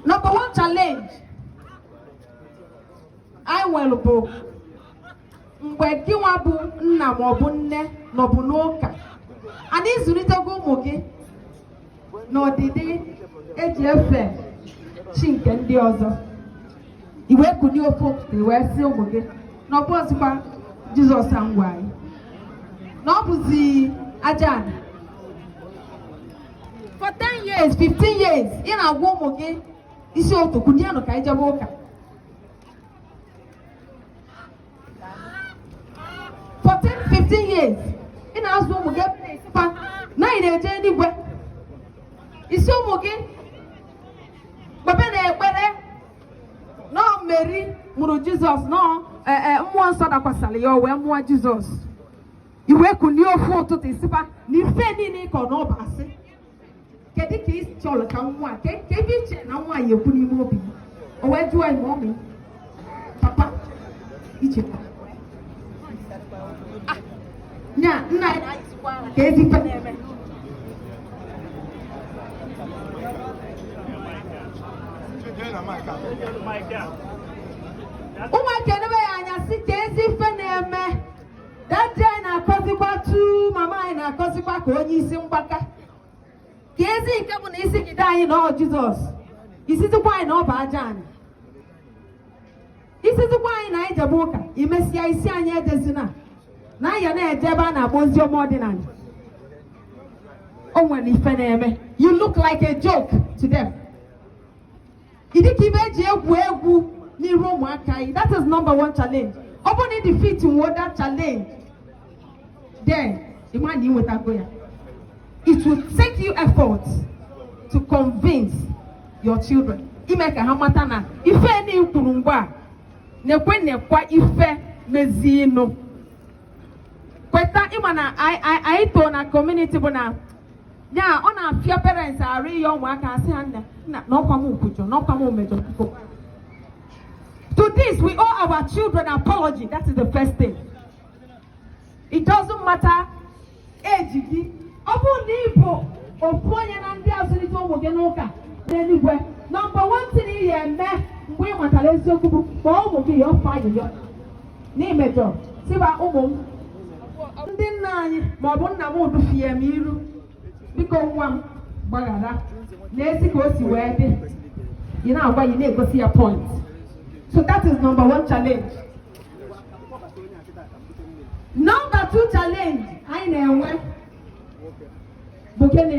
Number one challenge anyị nwere bụ mgbe gị nwa bụ nna maọbụ nne nọbu n'ụka ana ị zụlitego ụmụ gị n'ọdịdị eji efe chi nke ndị ọzọ i wee kunie ofu i wee sị ụmụ gị na ọ bụrọzịkwa jizọs a ngwa anyị na ọ bụzi aja anị for 10 years 15 years ị na-agwa ụmụ gị isi ụtụtụ kunienụ ka anyị jebe ụka for 10 15 years ị na-azụ ụmụ gị ebe na-asịkwa na anyị na-eje eluigwe ị sị ụmụ gị kpebenụ ekpere na ọ meri mụrụ jizọs na ọ mmụọ nsọ dakwasara ya o wee mụọ jizọs i wee kulie ofu ụtụtụ ị sị fa na ife niile ị kọ na ọ bụ asị kedu ka ị chọrọ ka nwa ka ebe i che na nwa ya-ekwu n'ime obi o wee jụọ ime ọmị papa ichekwa nya nna keezi ụmụaka enebe ya anya sị keezi ife na-eme dadi anyị na-akọzikwa tu mama anyị na-akọzikwa ka onye isi mgbaka keezi nke bụ na ị sịgide anyị na ọ jizọs ị sịzikwa anyị na ọ bụ aja anị ị sịzikwa anyị na anyị jebe ụka i mesịa ị sị anyị ejezina na anyị na-eje ebe a na-agba ozi ọma ọdịnanị o nwere ife na-eme you look like a joke to them ị dịka ife eji egwu egwu n'iru ụmụaka anyị that is number one challenge ọ bụrụ na ị defeat nwuo that challenge then ị ma na i nwetago ya it will take you effort to convince your children ime ka ha mata na ife na i kwuru mgbe a na-ekwe na-ekwa ife meziinụ kweta ị ma na anyị too na community bụ na ya ọ na-afịa parents arụ ịyọ ụmụaka sị ha nna na ọ kwa m kwujọ na ọ kwa m mejọ biko to this we owe our children apology that is the first thing it doesn't matter age gị ọ bụrụ na ị bụ ofu onye na ndị azụlite ụmụ gị n'ụka n'eluigwe number one thing ị ya-eme mgbe ị matara eziokwu bụ kpọọ ụmụ gị yọọ fa ayịyọ na i mejọ sị fa ụmụ m ndị nna anyị ma ọ bụ nna m dufie m iru biko nwa m gbaghara neezi ka o si wee dị ị na-agwa ya na-egosi ya point so that is number one challenge number two challenge anyị na-enwe bụ gịnị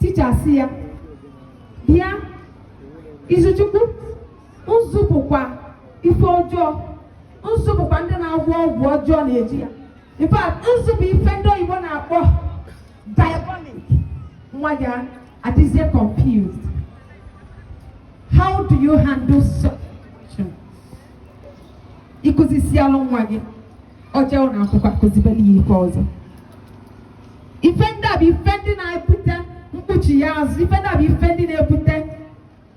ticha asị ya bịa izuchukwu nzu bụkwa ife ọjọọ nzu bụkwa ndị na-agwọ ọgwụ ọjọọ na-eji ya in fact nzu bụ ife ndị oyibo na-akpọ diabolic nwa gị adịzie confused how do you handle such ị kụzisialụ nwa gị o jee na akwụkwọ a kụzibelụ ya ife ọzọ ife ndị a bụ ife ndị na-ebute mkpuchi ya azụ ife ndị a bụ ife ndị na-ebute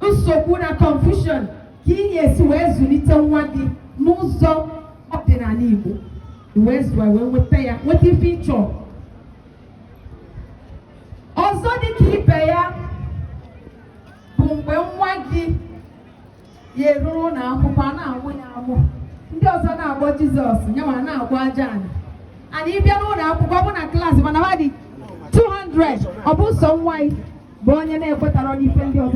nsogbu na confusion ka ị ga-esi wee zụlite nwa gị n'ụzọ ọdịnala Igbo wee zụọ ya wee nweta ya nweta ife ị chọ ọzọ dị ka ibe ya bụ mgbe nwa gị ya eru ụlọ akwụkwọ a na-amụ ya amụ ndị ọzọ na-akpọ jizọs nyanwa na-agọ aja anị ana ị bịa n'ụnọ akwụkwọ ọ bụ na klaasị mana ha dị 200 ọ bụ sọ nwa gị bụ onye na-ekwetarọ n'ife ndị ọzọ